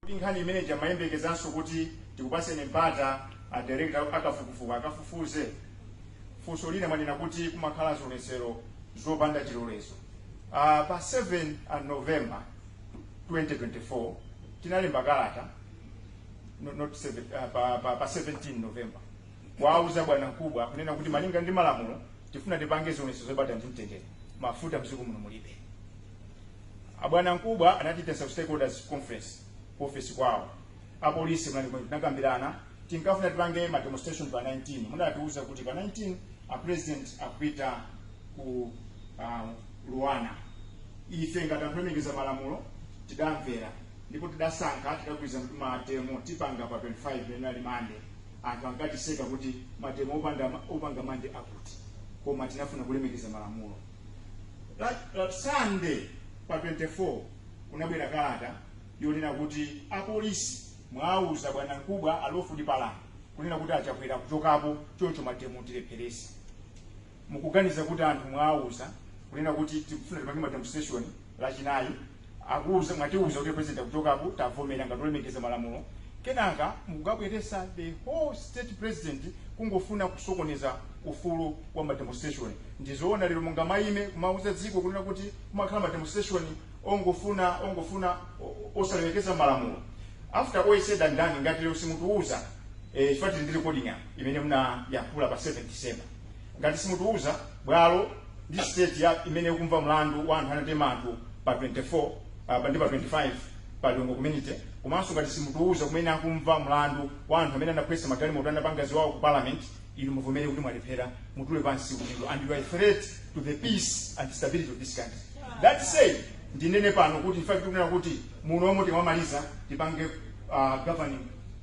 Kodi nkhani imene ija mumayembekezanso kuti tikupatseni mpata a director a kafukufuku akafufuze? Funso lina mwanena kuti kumakhala zionetsero zopanda chilolezo. Aaa pa 7 a November 2024 tinalemba kalata no not 7 aah pa pa pa 17 November kuwauza bwana mkubwa kunena kuti malinga ndi malamulo tifuna tipange zionetsero zobata ndi mtendere mafuta mdziko muno mulibe. abwana mkubwa anatiitanitsa ku stakeholders conference ku office kwawo apolisi munali momwemo tinakambirana tinkafuna tipange ma demonstration pa 19 munatiuza kuti pa 19 a president akupita ku uh, Luanda ife ngati anthu olemekeza malamulo tidamvera ndipo tidasankha tidagwirizana kuti mademo tipanga pa 25 lero linali mande anthu ankatiseka kuti mademo opanda opanga mande akuti koma tinafuna kulemekeza malamulo La, la Sunday pa 24 kunabwera kalata yonena kuti apolisi mwauza bwana mkubwa a Lawford Palani kunena kuti a Chakwera akuchokapo choncho mademo tilepheretse mukuganiza kuti anthu mwauza kunena kuti tikufuna tipange mademonstration lachinayi akuuza mwatiuza kuti president akuchokapo tavomera ngati olemekeza malamulo kenaka mukukabweretsa the whole state president kungofuna kusokoneza ufulu wa mademonstration ndizoona lero mungamaime kumauza dziko kunena kuti kumakhala mademonstration ongofuna ongofuna o- osalemekeza malamulo after all said and done ngati lero simutiuza eh, chifukwa tili ndi recording apa imene munayankhula pa 7 december Ngati simutiuza, bwalo ndi tsiku limene akumva mlandu wa anthu anatema anthu pa 24 apa ndi pa 25 pa Lilongwe community komanso ngati simutiuza kumene akumva mlandu wa anthu amene anaphwetsa magalimoto anapanga ziwawa ku parliament inu muvomere kuti mwalephera mutule pansi udindo and you are a threat to the peace and stability of this country that said ndinene pano kuti in fact tikunena kuti muno mo tikamamaliza tipange uh, governing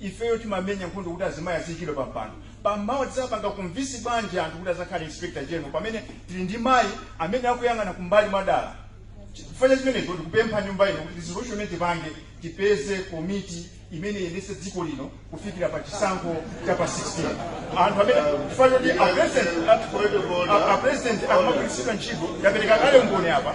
Ifeyo timamenya nkhondo kuti azimayi aziikidwa pa mpando. Pa mawa tizapanga convince bwanji anthu kuti azakhale inspector general pamene tili ndi mayi amene akuyang'ana kumbali mwadala? Chifukwa cha chimenecho ndikupempha nyumba ino kuti resolution imene tipange tipeze komiti imene iyendetse dziko lino kufikira pa chisankho cha pa 16. Anthu amene chifukwa choti a president a- a president akumagwiritsidwa ntchito ndapereka kale umboni apa